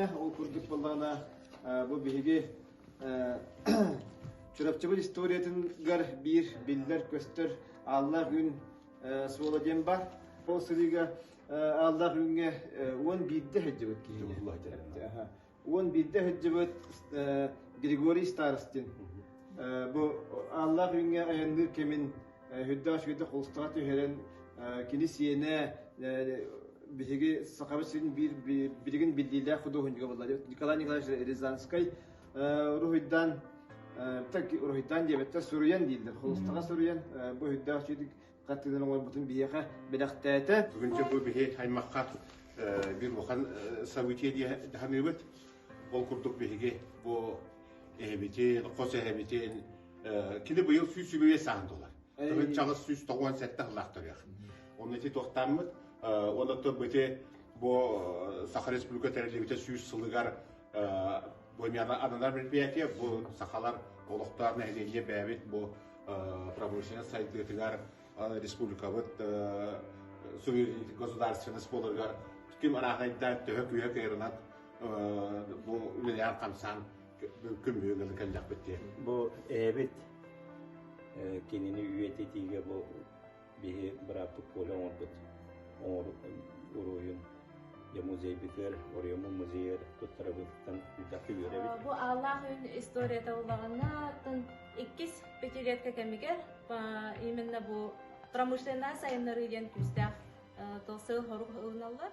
Ол курдук буоллаҕына бу биһиги Чурапчыбыт историятыгар биир биллэр-көстөр ааллаах үүн суола диэн бар. Ол сырыыга ааллаах үүҥҥэ уон биирдэ сылдьыбыт киһини. Уон биирдэ сылдьыбыт Григорий Старостин. Бу ааллаах үүҥҥэ айанныыр кэмин Үрдээх үчүгэйдик холустаҕа түһэрэн, кини сиэнэ биһиги Сахабыт сирин биир билигин биллиилээх худуоһунньуга буолла Николай Николаевич Рязанскай уруһуйдаан так уруһуйдаан диэбэттэр суруйан дииллэр холустаҕа суруйан бу үрдээх үчүгэйдик хаттыынан оҥорбутун биһиэхэ бэлэхтээтэ бүгүнчэ бу биһи аймахха бир улахан событие дии даһаныыбыт ол курдук биһиги бу эһэбитин хос эһэбитин Кини быйыл сүүс үбүе саан туолар. Кырын чаҕыс сүүс тоҕуон сэттэ сыллаах төлүөх. Оны ити туохтааммыт, он оттор быты бу Саха Республика тэриллибите сүүс сылыгар бу ананар мероприятие бу сахалар олохтоох нэһилиэнньэ бэбит бу промышленнай сайдыытыгар республикабыт суверенитет государственность болыргар ким арахайда төһө күйэ кайрынан бу үлэлээн хамсаан күн бүгүн ыла кэллэхпит диэн. Бу эһэбит кинини үйэтитиигэ бу биһи бырааппыт Коля оҥорбут оҥор уруһун я музейбитигэр Орьему музейыгар туттарабыттан үтахы үөрэбит. Бу Аллах үн историята улаҕаннаттан иккис пятилетка кэмигэр именно бу промышленная сайыннарыы диэн күүстээх тыл сыл хорук ылыналлар.